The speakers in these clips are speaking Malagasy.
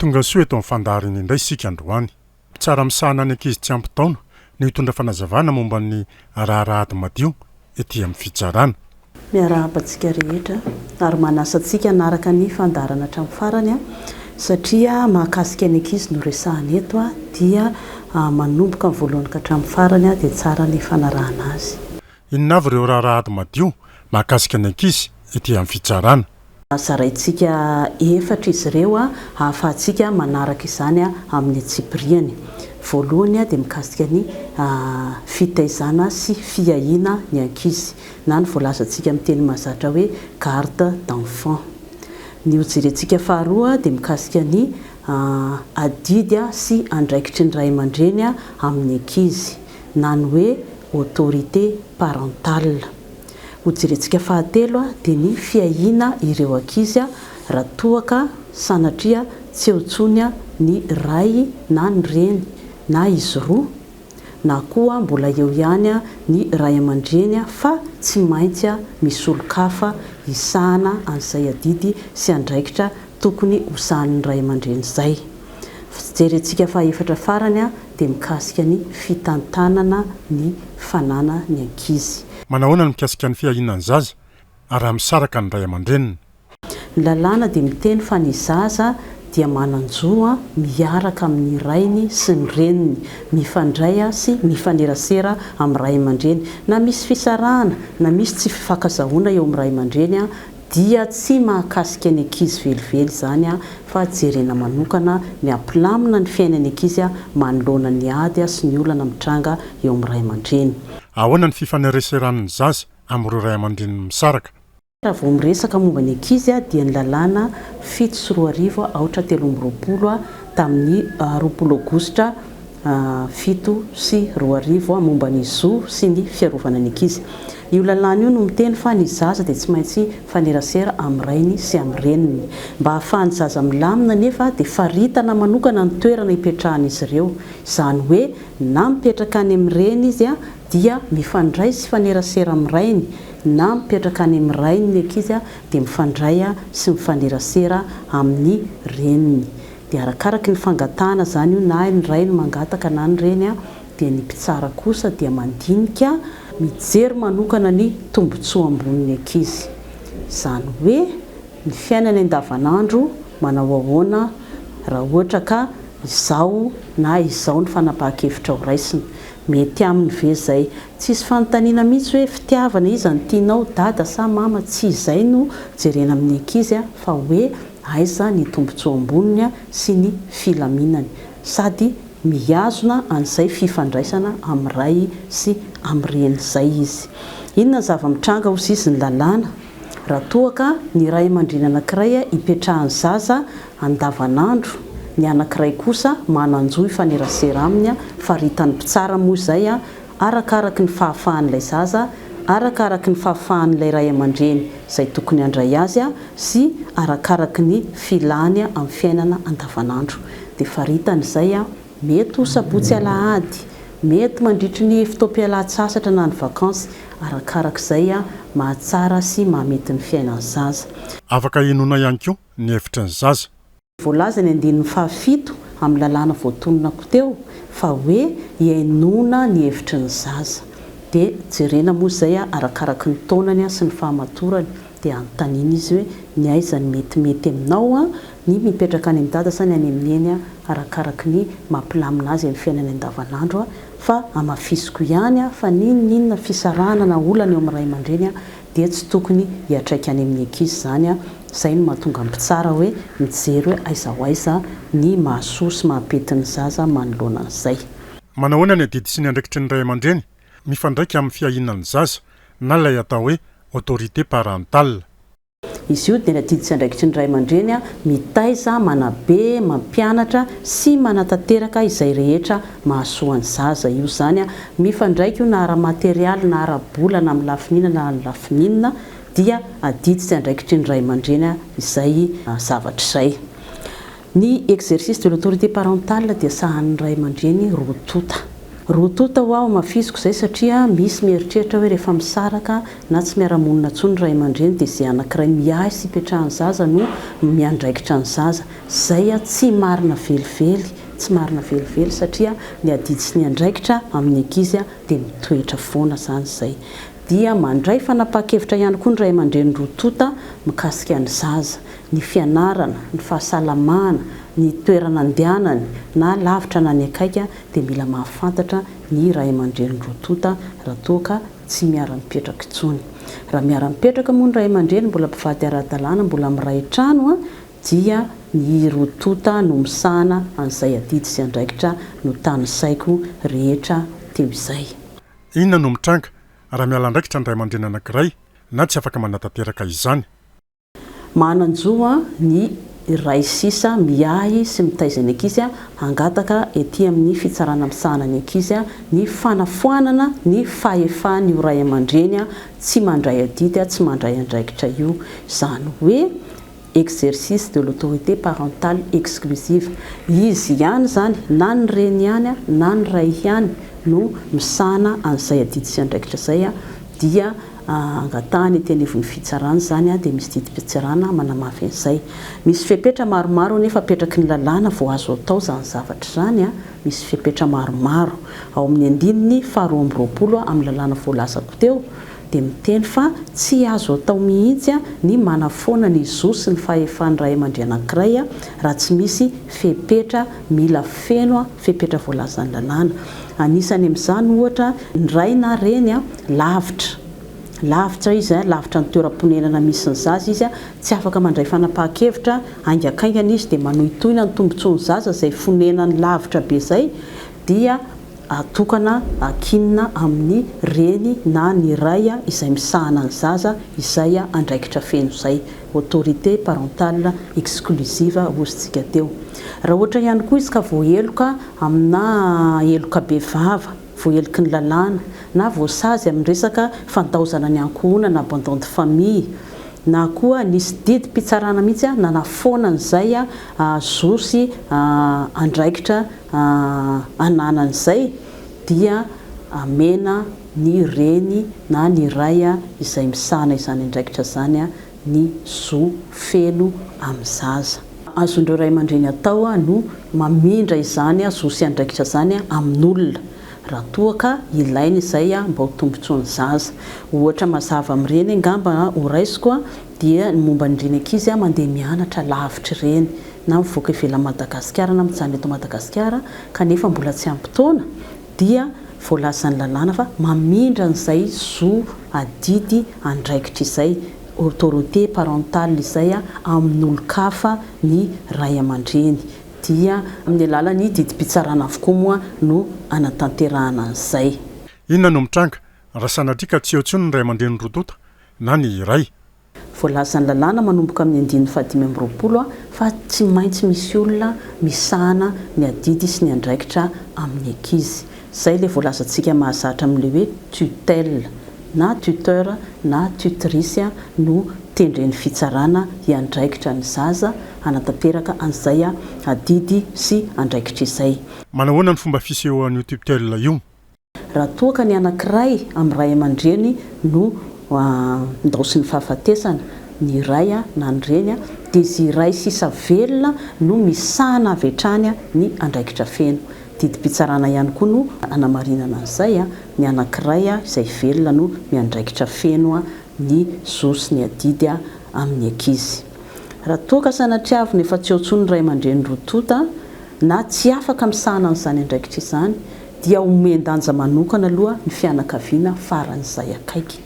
Tonga soa eto amin'ny fandaharana indray isika androany. Mpitsara misahana ny ankizy tsy ampy taona no hitondra fanazavana momba ny raharaha ady madio ety amin'ny fitsarana. Miarahaba antsika rehetra ary manasa antsika hanaraka ny fandaharana hatramin'ny farany satria mahakasika ny ankizy no resahana eto dia manomboka amin'ny voalohany ka hatramin'ny farany dia tsara ny fanarahana azy. Inona avy ireo raharaha ady madio mahakasika ny ankizy ety amin'ny fitsarana? Zaraintsika efatra izy ireo ahafahantsika manaraka izany amin'ny antsipiriany. Voalohany dia mikasika ny fitaizana sy fiahiana ny ankizy na ny voalazantsika amin'ny teny mahazatra hoe garde d'enfants. Ny ho jerentsika faharoa dia mikasika ny adidy sy andraikitry ny ray aman-dreny amin'ny ankizy. na ny hoe autorité parentale. Ho jerentsika fahatelo dia ny fiahiana ireo ankizy raha toa ka sanatria tsy eo intsony ny ray na ny reny na izy roa na koa mbola eo ihany ny ray aman-dreny fa tsy maintsy misolon-kafa hisahana an'izay adidy sy andraikitra tokony hosahanin'ny ray aman-dreny izay. Jerentsika fahaefatra farany dia mikasika ny fitantanana ny fanana ny ankizy. Manahoana ny mikasika ny fiahiana ny zaza ary raha misaraka ny ray aman-dreniny? Ny lalàna dia miteny fa ny zaza dia manan-jo miaraka amin'ny rainy sy ny reniny, mifandray sy mifanerasera amin'ny ray aman-dreny na misy fisarahana na misy tsy fifankazahoana eo amin'ny ray aman-dreny, Dia tsy mahakasika ny ankizy velively izany fa jerena manokana ny hampilamina ny fiainan'ny ankizy manoloana ny ady sy ny olana mitranga eo amin'ny ray aman-dreny. Ahoana ny fifaneraseran'ny zaza amin'ireo ray aman-dreniny misaraka? Raha vao miresaka momba ny ankizy dia ny lalàna fito sy roa arivo aotra telo amby roapolo tamin'ny roapolo aogositra, fito sy roa arivo momba ny zo sy ny fiarovana ny ankizy. Io lalàna io no miteny fa ny zaza dia tsy maintsy hifanerasera amin'ny rainy sy amin'ny reniny. Mba hahafahan'ny zaza milamina anefa dia faritana manokana ny toerana hipetrahan'izy ireo. Izany hoe na mipetraka any amin'ny reny izy dia mifandray sy hifanerasera amin'ny rainy na mipetraka any amin'ny rainy ny ankizy dia mifandray sy mifanerasera amin'ny reniny. Dia arakaraky ny fangatahana izany io na ny ray no mangataka na ny reny dia ny mpitsara kosa dia mandinika mijery manokana ny tombotsoa ambonin'ny ankizy. Izany hoe ny fiainany andavanandro manao ahoana raha ohatra ka izao na izao ny fanapahan-kevitra ho raisina. Mety aminy ve izay? Tsisy fanontaniana mihitsy hoe fitiavana iza no tianao, dada sa mama, tsy izay no jerena amin'ny ankizy fa hoe. Aiza ny tombontsoa amboniny sy ny filaminany sady mihazona an'izay fifandraisana amin'ny ray sy amin'ny reny izay izy? Inona ny zava-mitranga ho sisin'ny lalàna raha toa ka ny ray aman-dreny anankiray ipetrahan'ny zaza andavanandro, ny anankiray kosa manan-jo hifanerasera aminy, faritany mpitsara moa izay, arakaraky ny fahafahan'ilay zaza, arakaraky ny fahafahan'ilay ray aman-dreny izay tokony handray azy sy arakaraky ny filany amin'ny fiainana andavanandro. Dia faritany izay, mety ho sabotsy alahady, mety mandritry ny fotoam-pialan-tsasatra na ny vakansy, arakaraky izay mahatsara sy mahamety ny fiainan'ny zaza. Afaka hinoana ihany koa ny hevitry ny zaza. Voalaza ny andininy fahafito amin'ny lalàna voatononako teo fa hoe hihainoana ny hevitry ny zaza. Dia jerena moa izay arakaraky ny taonany sy ny fahamatorany. Dia anontaniana izy hoe ny aiza no metimety aminao, ny mipetraka any amin'i dada sa ny any amin'ny neny arakaraky ny maha mpilamina azy amin'ny fiainany andavanandro fa hamafisiko ihany fa n'inon'inona fisarahana na olana eo amin'ny ray aman-dreny dia tsy tokony hiatraika any amin'ny ankizy izany an! izay no mahatonga ny mpitsara hoe mijery hoe aiza ho aiza ny mahasoa sy mahapety ny zaza manoloana an'izay. Manahoana ny adidy sy ny andraikitry ny ray aman-dreny mifandraika amin'ny fiahiana ny zaza na ilay atao hoe autorité parentale? Izy io dia ny adidy sy andraikitry ny ray aman-dreny mitaiza, manabe, mampianatra sy manatanteraka izay rehetra Mahasoa ny zaza io zany a! Mifandraika io na ara-materialy na ara-bola na amin'ny lafiny inona na lafiny inona dia adidy sy andraikitry ny ray aman-dreny izay zavatra izay. Ny exercice de l'autorité parentale dia sahanin'ny ray aman-dreny roa tonta. Roa tonta hoa hamafisiko izay satria misy mieritreritra hoe rehefa misaraka na tsy miara-monina intsony ny ray aman-dreny dia izay anankiray miahy sy ipetrahan'ny zaza no miandraikitra ny zaza. Izay tsy marina velively. Tsy marina velively satria ny adidy sy ny andraikitra amin'ny ankizy dia mitoetra foana izany izay. Dia mandray fanapahan-kevitra ihany koa ny ray aman-dreny roa tonta mikasika ny zaza, ny fianarana, ny fahasalamana, ny toerana andehanany na lavitra na ny akaiky dia mila mahafantatra ny ray aman-dreny roa tonta raha toa ka tsy miara-mipetraka intsony. Raha miara-mipetraka moa ny ray aman-dreny mbola mpivady ara-dalàna mbola miray trano dia ny hirotoata no misahana an'izay adidy sy andraikitra notanisaiko rehetra teo izay. Inona no mitranga raha miala andraikitra ny ray aman-dreny anankiray na tsy afaka manatanteraka izany? Manan-jo ny ray sisa miahy sy mitaiza ny ankizy hangataka ety amin'ny fitsarana misahana ny ankizy ny fanafoanana ny fahefan'io ray aman-dreny tsy mandray adidy, tsy mandray andraikitra io. Izany hoe. exercice de l'autorité parentale exclusive, izy ihany izany na ny reny ihany na ny ray ihany no misahana an'izay adidin'andraikitra izay dia angatahany ety anivon'ny fitsarana izany dia misy didim-pitsarana manamafy an'izay. Misy fepetra maromaro anefa apetraky ny lalàna vao azo atao izany zavatra izany, misy fepetra maromaro ao amin'ny andininy faharoa amby roapolo amin'ny lalàna voalazako teo, dia miteny fa tsy azo atao mihitsy ny manafoana ny zo sy ny fahefan'ny ray aman-dre anankiray raha tsy misy fepetra mila feno, fepetra voalazan'ny lalàna. Anisany amin'izany ohatra ny ray na reny lavitra, lavitra izy, lavitra ny toeram-ponenana misy ny zaza izy, tsy afaka mandray fanapahan-kevitra, haingakaingana izy dia manohitohina ny tombotsoan'ny zaza izay fonenany lavitra be izay, dia atokana ankinina amin'ny reny na ny ray izay misahana ny zaza izay andraikitra feno izay, autorité parentale exclusive hozintsika teo. Raha ohatra ihany koa izy ka voaheloka aminà heloka bevava, voaheloky ny lalàna, na voasazy amin'ny resaka fandaozana ny ankohonana, abandon de famille, na koa nisy didim-pitsarana mihitsy nanafoana an'izay zo sy andraikitra ananany izay dia amena ny reny na ny ray izay misahana izany andraikitra izany ny zo feno amin'ny zaza. Azon'ireo ray aman-dreny atao no mamindra izany zo sy andraikitra izany amin'olona raha toa ka ilaina izay mba ho tombontsoan'ny zaza. Ohatra mazava amin'ireny angamba horaisiko dia ny momba an'ireny ankizy mandeha mianatra lavitra ireny na mivoaka ivelan'i Madagasikara na mijanona eto Madagasikara kanefa mbola tsy ampy taona dia voalazan'ny lalàna fa mamindra an'izay zo adidy andraikitra izay, autorité parentale, izay amin'olon-kafa ny ray aman-dreny dia amin'ny alalan'ny didim-pitsarana avokoa moa no anatanterahana an'izay. Inona no mitranga raha sanatria ka tsy eo intsony ny ray aman-dreny roa tonta na ny iray. Voalazan'ny lalàna manomboka amin'ny andininy fahadimy amby roapolo fa tsy maintsy misy olona misahana ny adidy sy ny andraikitra amin'ny ankizy. Izay ilay voalazantsika mahazatra amin'ilay hoe tutelle. Na tuteur na tutrice no tendren'ny fitsarana hiandraikitra ny zaza hanatanteraka an'izay adidy sy andraikitra izay. Manahoana ny fomba fisehoan'io tutelle io? Raha toa ka ny anankiray amin'ny ray aman-dreny no andaosin'ny fahafatesana, ny iray na ny reny, dia izy iray sisa velona no misahana avy hatrany ny andraikitra feno. Didim-pitsarana ihany koa no anamarinana an'izay, ny anankiray izay velona no miandraikitra feno ny zo sy ny adidy amin'ny ankizy. Raha toa ka sanatria avy no efa tsy eo intsony ny ray aman-dreny roa tonta na tsy afaka misahana an'izany andraikitra izany, dia omen-danja manokana aloha ny fianakaviana faran'izay akaiky.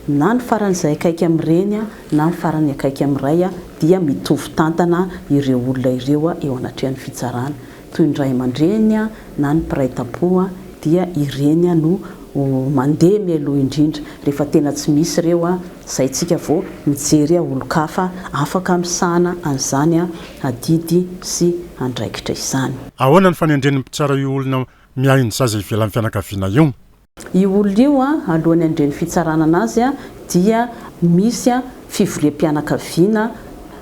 Na ny faran'izay akaiky amin'ny reny na ny farany akaiky amin'ny ray dia mitovy tantana ireo olona ireo eo anatrehan'ny fitsarana. Toy ny ray aman-dreny na ny mpiray tampo dia ireny no mandeha mialoha indrindra rehefa tena tsy misy ireo. Zay tsika vao mijery a olon-kafa afaka misahana an'izany a adidy sy andraikitra izany. Ahoana ny fanendren'ny mpitsara io olona miahy ny zaza ivelan'ny fianakaviana io? Io olona io a alohan'ny handre ny fitsarana anazy a dia misy a fivoriam-pianakaviana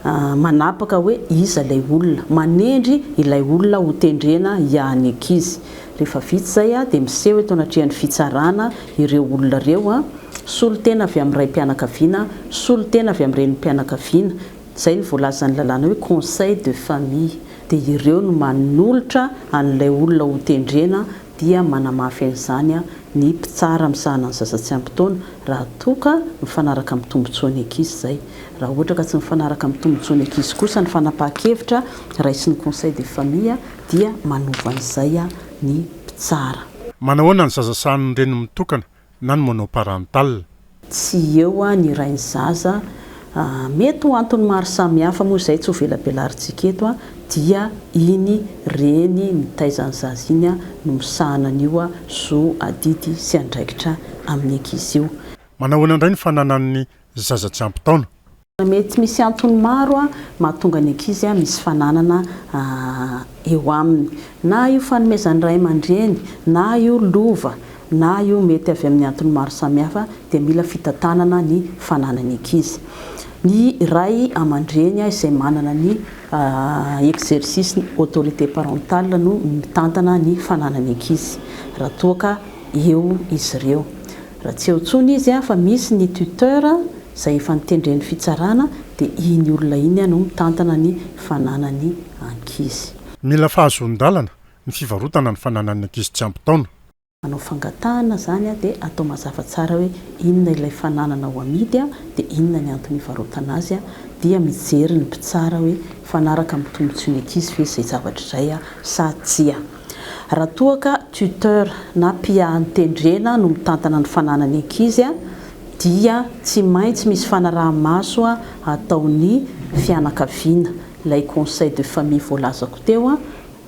a manapaka hoe iza ilay olona, manendry ilay olona ho tendrena hiahy ny ankizy. Rehefa vita izay dia miseho eto anatrehan'ny fitsarana ireo olona ireo, solontena avy amin'ny raim-pianakaviana, solontena avy amin'ny renim-pianakaviana, izay no voalazan'ny lalàna hoe conseil de famille, dia ireo no manolotra an'ilay olona hotendrena dia manamafy an'izany ny mpitsara misahana ny zaza tsy ampy taona raha toa ka mifanaraka amin'ny tombontsoan'ny ankizy izay. Raha ohatra ka tsy mifanaraka amin'ny tombontsoan'ny ankizy kosa ny fanapahan-kevitra raisin'ny conseil de famille, dia manova izay ny mpitsara. Manahoana ny zaza sahanin'ny reniny mitokana na ny monoparental? Tsy eo ny ray ny zaza, mety ho antony maro samihafa moa izay tsy ho velabelarintsika eto, dia iny reny mitaiza ny zaza iny no misahana an'io zo adidy sy andraikitra amin'ny ankizy io. Manahoana indray ny fananan'ny zaza tsy ampy taona? Mety misy antony maro mahatonga ny ankizy misy fananana eo aminy. Na io fanomezan'ny ray aman-dreny, na io lova, na io mety avy amin'ny antony maro samihafa dia mila fitantanana ny fananany ankizy. Ny ray aman-dreny izay manana ny exercice ny autorité parentale no mitantana ny fananany ankizy raha toa ka eo izy ireo. Raha tsy eo tsony izy a fa misy ny tuteur zay efa notendren'ny fitsarana de iny olona iny a no mitantana ny fananany ankizy. Mila fahazoan-dalana ny fivarotana ny fananan'ny ankizy tsy ampy taona. Manao fangatahana zany a de atao mazava tsara hoe inona ilay fananana ho amidy a de inona ny antony hivarotana azy a dia mijery ny mpitsara hoe mifanaraka amin'ny tombotsoin'ny ankizy ve izay zavatra izay a sa tsia. Raha toa ka tuteur na mpiahan-tendrena no mitantana ny fananan'ny ankizy dia tsy maintsy misy fanaraha-maso ataon'ny fianakaviana, ilay conseil de famille voalazako teo,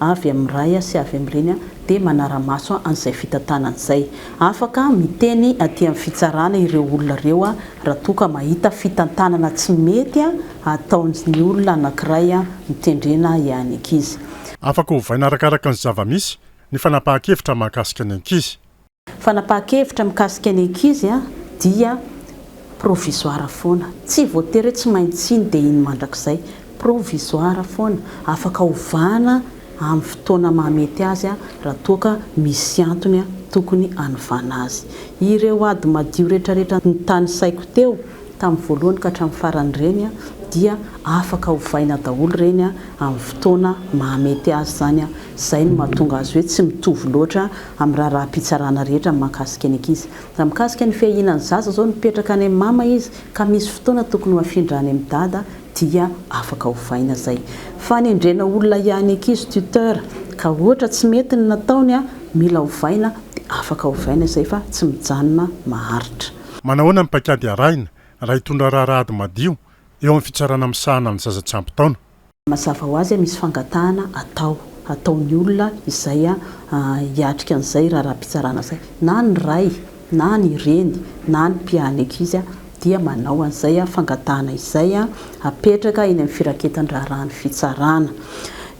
avy amin'ny ray sy avy amin'ny reny dia manara-maso an'izay fitantanana izay. Afaka miteny aty amin'ny fitsarana ireo olona ireo raha toa ka mahita fitantanana tsy mety ataon'ny olona anankiray mitendrena ihany ankizy. Afaka ovaina arakaraka ny zava-misy ny fanapahan-kevitra mahakasika ny ankizy. Fanapahan-kevitra mikasika ny ankizy dia provisoire foana. Tsy voatery hoe tsy maintsy iny dia iny mandrakizay. Provisoire foana. Afaka ovana amin'ny fotoana mahamety azy raha toa ka misy antony tokony hanovana azy. Ireo ady madio rehetrarehetra notanisaiko teo tamin'ny voalohany ka hatramin'ny farany ireny dia afaka ovaina daholo ireny amin'ny fotoana mahamety azy izany, izay no mahatonga azy hoe tsy mitovy loatra amin'ny raharaham-pitsarana rehetra mahakasika ny ankizy. Raha mikasika ny fiahiana ny zaza izao, mipetraka any amin'ny mama izy ka misy fotoana tokony ho afindra any amin'ny dada dia afaka ovaina izay. Fanendrena olona hiahy ny ankizy, tuteur, ka ohatra tsy mety ny nataony, mila ovaina dia afaka ovaina izay fa tsy mijanona maharitra. Manahoana ny paikady arahina raha hitondra raharaha ady madio eo amin'ny fitsarana misahana ny zaza tsy ampy taona? Mazava ho azy misy fangatahana atao ataon'ny olona izay hiatrika an'izay raharaham-pitsarana izay. Na ny ray, na ny reny, na ny mpiahy ankizy dia manao an'izay fangatahana izay apetraka eny amin'ny firaketan-draharahan'ny fitsarana.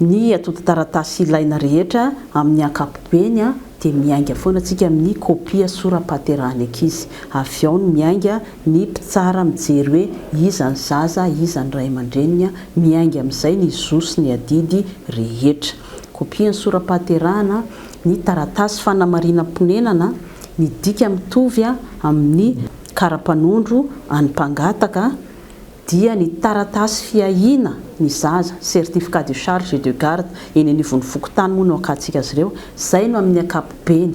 Ny atodin-taratasy ilaina rehetra amin'ny ankapobeny. dia miainga foana tsika amin'ny kopia sora-pahaterahan'ny ankizy. Avy ao no miainga ny mpitsara mijery hoe iza ny zaza, iza ny ray aman-dreniny, miainga amin'izay ny zo sy ny adidy rehetra. Kopian'ny sora-pahaterahana ny taratasy fanamarinam-ponenana ny dika mitovy amin'ny kara-panondro an'ny mpangataka dia ny taratasy fiahiana ny zaza, certificat de charge et de garde, eny anivon'ny fokontany moa no akatsika azy ireo, izay no amin'ny ankapobeny,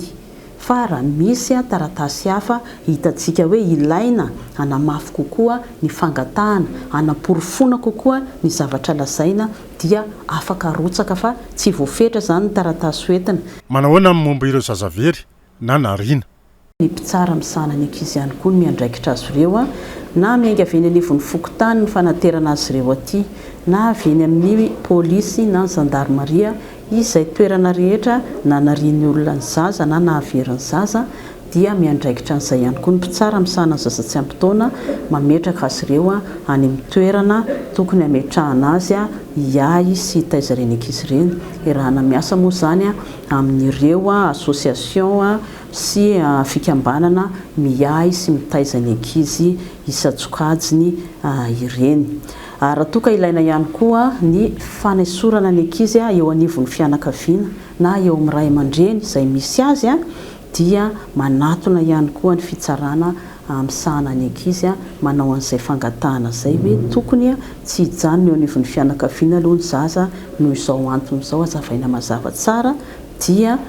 fa raha misy taratasy hafa hitantsika hoe ilaina hanamafy kokoa ny fangatahana, hanaporofoana kokoa ny zavatra lazaina dia afaka arotsaka fa tsy voafetra izany ny taratasy hoentina. Manahoana ny momba ireo zaza very na nariana? Ny mpitsara misahana ny ankizy ihany koa no miandraikitra azy ireo, na miainga avy eny anivon'ny fokontany ny fanaterana azy ireo aty, na avy eny amin'ny polisy na ny zandarimaria, izay toerana rehetra nanarian'ny olona ny zaza na nahavery ny zaza dia miandraikitra an'izay ihany koa ny mpitsara misahana ny zaza tsy ampy taona, mametraka azy ireo any amin'ny toerana tokony hametrahana azy hiahy sy hitaiza ireny ankizy ireny, erahana miasa moa izany. amin'ireo association sy fikambanana miahy sy mitaiza ny ankizy isan-tsokajiny ireny. Ary raha toa ka ilaina ihany koa ny fanesorana ny ankizy eo anivon'ny fianakaviana na eo amin'ny ray aman-dreny izay misy azy dia manatona ihany koa ny fitsarana Hamisahana ny ankizy manao an'izay fangatahana izay hoe tokony tsy hijanona eo anivon'ny fianakaviana aloha ny zaza noho izao antony izao hazavaina mazava tsara dia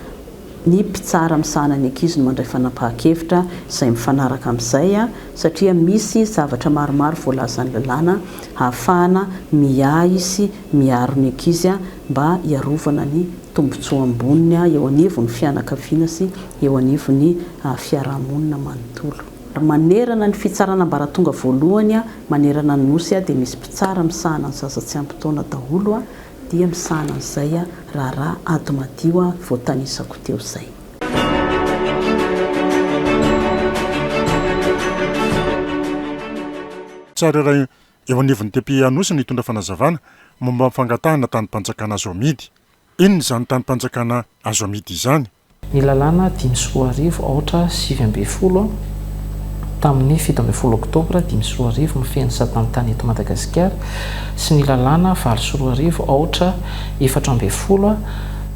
ny mpitsara misahana ny ankizy no mandray fanapahan-kevitra izay mifanaraka amin'izay satria misy zavatra maromaro voalazan'ny lalàna hahafahana miahy sy miaro ny ankizy mba hiarovana ny tombontsoa amboniny eo anivon'ny fianakaviana sy eo anivon'ny fiarahamonina manontolo. Manerana ny fitsarana ambaratonga voalohany manerana ny Nosy dia misy mpitsara misahana ny zaza tsy ampy taona daholo dia misahana an'izay raharaha ady madio voatanisako teo izay. Tsara raha Eo anivon'ny depiote Anosy no hitondra fanazavana momba ny fangatahana tanim-panjakana azo amidy. Inona izany tanim-panjakana azo amidy izany? Ny lalàna dimy sy roa arivo aotra sivy ambin'ny folo tamin'ny fito ambin'ny folo oktobra dimy sy roa arivo mifehy ny satan'ny tany eto Madagasikara sy ny lalàna valo sy roa arivo aotra efatra ambin'ny folo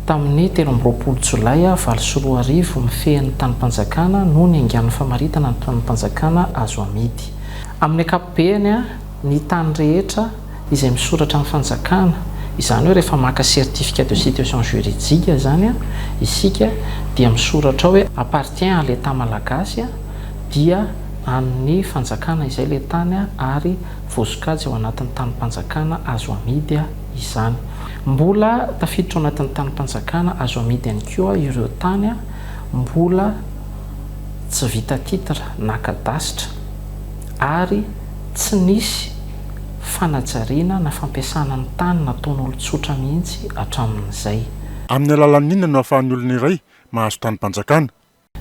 tamin'ny telo amby roapolo jolay valo sy roa arivo mifehy ny tanim-panjakana no niaingan'ny famaritana ny tanim-panjakana azo amidy. Amin'ny ankapobeny, ny tany rehetra izay misoratra amin'ny fanjakana, izany hoe rehefa maka certificat de situation juridique izany isika dia misoratra ao hoe appartient à l'Etat malagasy, dia an'ny fanjakana izay ilay tany ary voasokajy ao anatin'ny tanim-panjakana azo amidy izany. Mbola tafiditra ao anatin'ny tanim-panjakana azo amidy ihany koa ireo tany mbola. tsy vita titre na kadasitra ary tsy nisy fanajariana na fampiasana ny tany nataon'olon-tsotra mihitsy hatramin'izay. Amin'ny alalan'inona no ahafahan'ny olona iray mahazo tanim-panjakana?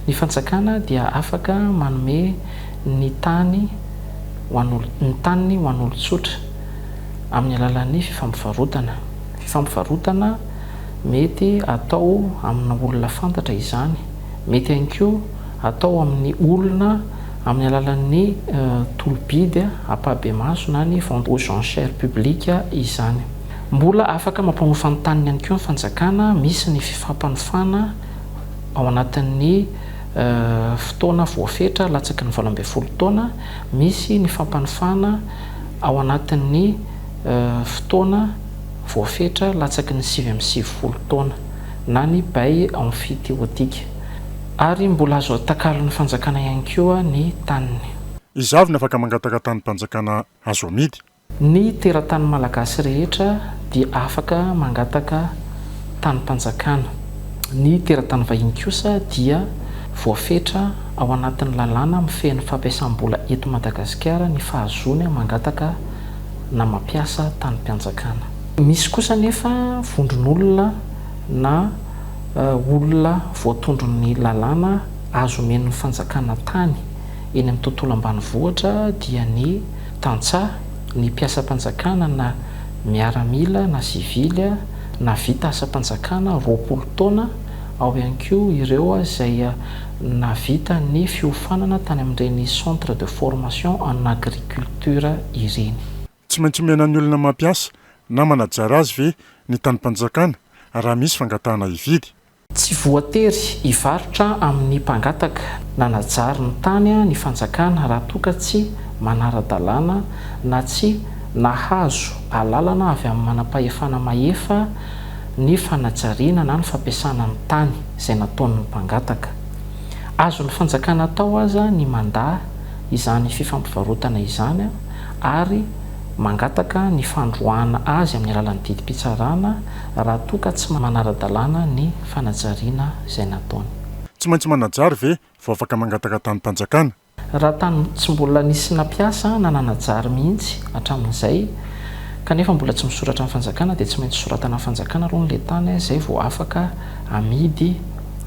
Ny fanjakana dia afaka manome ny tany ho an'olon, ny taniny ho an'olon-tsotra amin'ny alalan'ny fifampivarotana. Fifampivarotana mety atao amina olona fantatra izany. Mety ihany koa atao amin'ny olona amin'ny alalan'ny tolo-bidy ampahibemaso na ny vente aux enchères publiques izany. Mbola afaka mampanofa ny taniny ihany koa ny fanjakana, misy ny fifampanofana ao anatin'ny fotoana voafetra latsaky ny valo ambin'ny folo taona, misy ny fampanofana ao anatin'ny fotoana voafetra latsaky ny sivy amby sivifolo taona. na ny bay emphithéotique, ary mbola azo atakalon'ny fanjakana ihany koa ny taniny. Iza avy no afaka mangataka tanim-panjakana azo amidy? Ny teratany malagasy rehetra dia afaka mangataka tanim-panjakana. Ny teratany vahiny kosa dia voafetra ao anatin'ny lalàna mifehy ny fampiasam-bola eto Madagasikara ny fahazoany mangataka na mampiasa tanim-panjakana. Misy kosa anefa vondron'olona na olona voatondron'ny lalàna azo omen'ny fanjakana tany eny amin'ny tontolo ambanivohitra dia ny tantsaha, ny mpiasam-panjakana na miaramila na sivily na vita asam-panjakana roapolo taona, ao ihany koa ireo izay nahavita ny fiofanana tany amin'ireny centre de formation en agriculture ireny. Tsy maintsy omena ny olona mampiasa na manajary azy ve ny tanim-panjakana raha misy fangatahana hividy? Tsy voatery hivarotra amin'ny mpangataka nanajary ny tany ny fanjakana raha toa ka tsy manara-dalàna na tsy nahazo alalana avy amin'ny manam-pahefana mahefa ny fanajariana na ny fampiasana ny tany izay nataon'ny mpangataka. Azon'ny fanjakana atao aza ny mandà izany fifampivarotana izany ary mangataka ny fandroahana azy amin'ny alalan'ny didim-pitsarana raha toa ka tsy manara-dalàna ny fanajariana izay nataony. Tsy maintsy manajary ve vao afaka mangataka tanim-panjakana? Raha tany tsy mbola nisy nampiasa na nanajary mihitsy hatramin'izay kanefa mbola tsy misoratra amin'ny fanjakana dia tsy maintsy soratana amin'ny fanjakana aloha ny le tany izay vao afaka amidy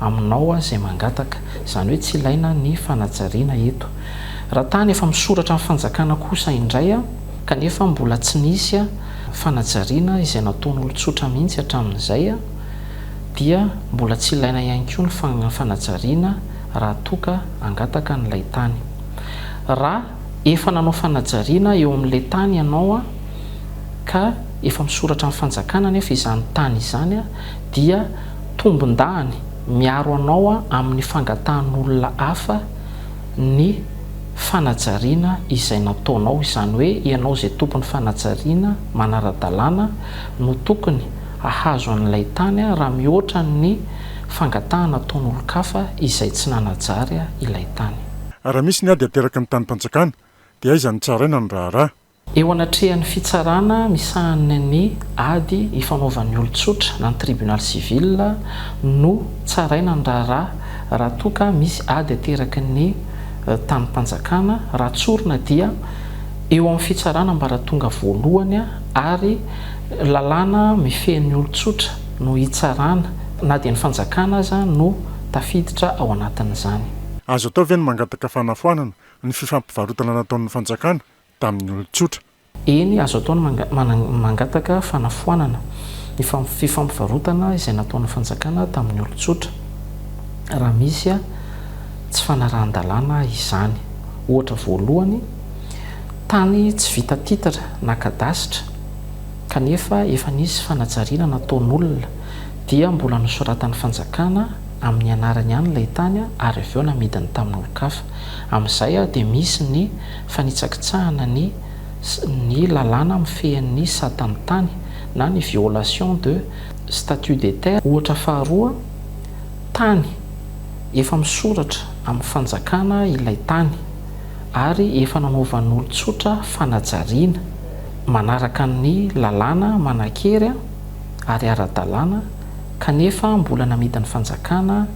aminao izay mangataka. Izany hoe tsy ilaina ny fanajariana eto. Raha tany efa misoratra ny fanjakana kosa indray kanefa mbola tsy nisy fanajariana izay nataon'olon-tsotra mihitsy hatramin'izay dia mbola tsy ilaina ihany koa ny fanajariana raha toa ka hangataka an'ilay tany. Raha efa nanao fanajariana eo amin'ilay tany ianao ka efa misoratra amin'ny fanjakana anefa izany tany izany dia tombondahany miaro anao amin'ny fangatahan'olona hafa ny fanajariana izay nataonao, izany hoe ianao izay tompon'ny fanajariana manara-dalàna no tokony hahazo an'ilay tany raha mihoatra ny fangatahana ataon'olon-kafa izay tsy nanajary ilay tany. Raha misy ny ady ateraky ny tanim-panjakana dia aiza no tsaraina ny raharaha? Eo anatrehan'ny fitsarana misahana ny ady ifanaovan'ny olon-tsotra na ny Tribunal civil no tsaraina ny raharaha raha toa ka misy ady ateraky ny tanim-panjakana raha tsorina dia eo amin'ny fitsarana ambaratonga voalohany ary lalàna mifehy ny olon-tsotra no hitsarana na dia ny fanjakana aza no tafiditra ao anatin'izany. Azo atao ve ny mangataka fanafoanana ny fifampivarotana nataon'ny fanjakana tamin'ny olon-tsotra. Eny, azo atao ny mangataka fanafoanana ny fifampivarotana izay nataon'ny fanjakana tamin'ny olon-tsotra, raha misy tsy fanarahan-dalàna izany. Ohatra voalohany, tany tsy vita titre na kadasitra kanefa efa nisy fanajariana nataon'olona, dia mbola nosoratan'ny fanjakana amin'ny anarany ihany ilay tany ary avy eo namidiny tamin'olon-kafa. Amin'izay dia misy ny fanitsakitsahana ny ny lalàna mifehy ny sata ny tany na ny violation de statut des terres ohatra faharoa tany efa misoratra amin'ny fanjakana ilay tany ary efa nanaovan'olon-tsotra fanajariana manaraka ny lalàna manan-kery ary ara-dalàna kanefa mbola namidin'ny fanjakana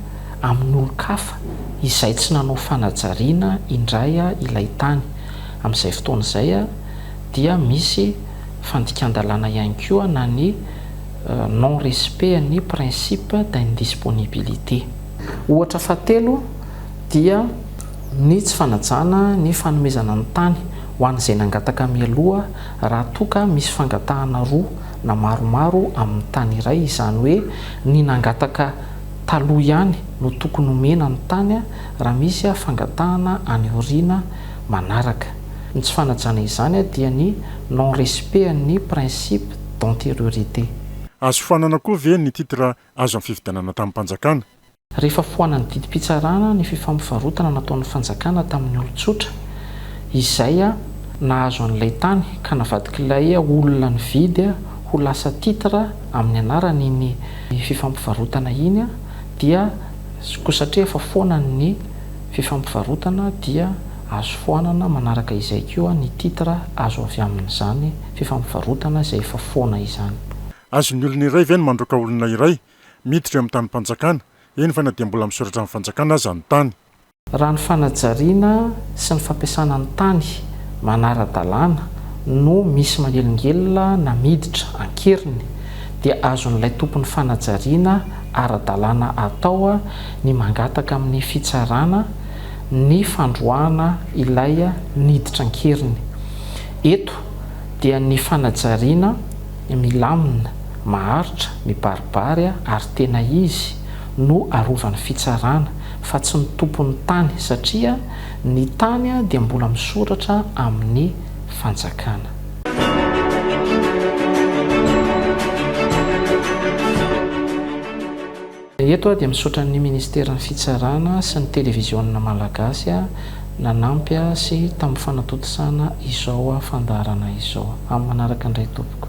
amin'olon-kafa izay tsy nanao fanajariana indray ilay tany. Amin'izay fotoana izay dia misy fandikan-dalàna ihany koa na ny non respect an'ny principe d'indisponibilité. Ohatra fahatelo dia ny tsy fanajana ny fanomezana ny tany ho an'izay nangataka mialoha raha toa ka misy fangatahana roa na maromaro amin'ny tany iray izany hoe ny nangataka taloha ihany no tokony omena ny tany raha misy fangatahana any aoriana manaraka. Ny tsy fanajana izany dia ny non respect an'ny principe d'antériorité. Azo foanana koa ve ny titre azo amin'ny fifidianana tamim-panjakana? Rehefa foanan'ny didim-pitsarana ny fifampivarotana nataon'ny fanjakana tamin'ny olon-tsotra izay nahazo an'ilay tany ka navadik'ilay olona nividy ho lasa titre, amin'ny anaran'iny fifampivarotana iny dia koa satria efa foana ny fifampivarotana dia azo foanana manaraka izay koa ny titre azo avy amin'izany fifampivarotana izay efa foana izany. Azon'ny olona iray ve ny mandroaka olona iray miditra eo amin'ny tanim-panjakana, eny fa na dia mbola misoratra amin'ny fanjakana aza ny tany? Raha ny fanajariana sy ny fampiasana ny tany manara-dalàna no misy manelingelina na miditra an-keriny dia azon'ilay tompon'ny fanajariana ara-dalàna atao ny mangataka amin'ny fitsarana ny fandroahana ilay niditra an-keriny. Eto dia ny fanajariana milamina, maharitra, mibaribary ary tena izy no arovan'ny fitsarana fa tsy ny tompon'ny tany satria ny tany dia mbola misoratra amin'ny fanjakana. Eto aho dia misaotra ny Ministeran'ny Fitsarana sy ny Televiziona Malagasy nanampy sy tamin'ny fanatontosana izao fandaharana izao. Amin'ny manaraka indray tompoko.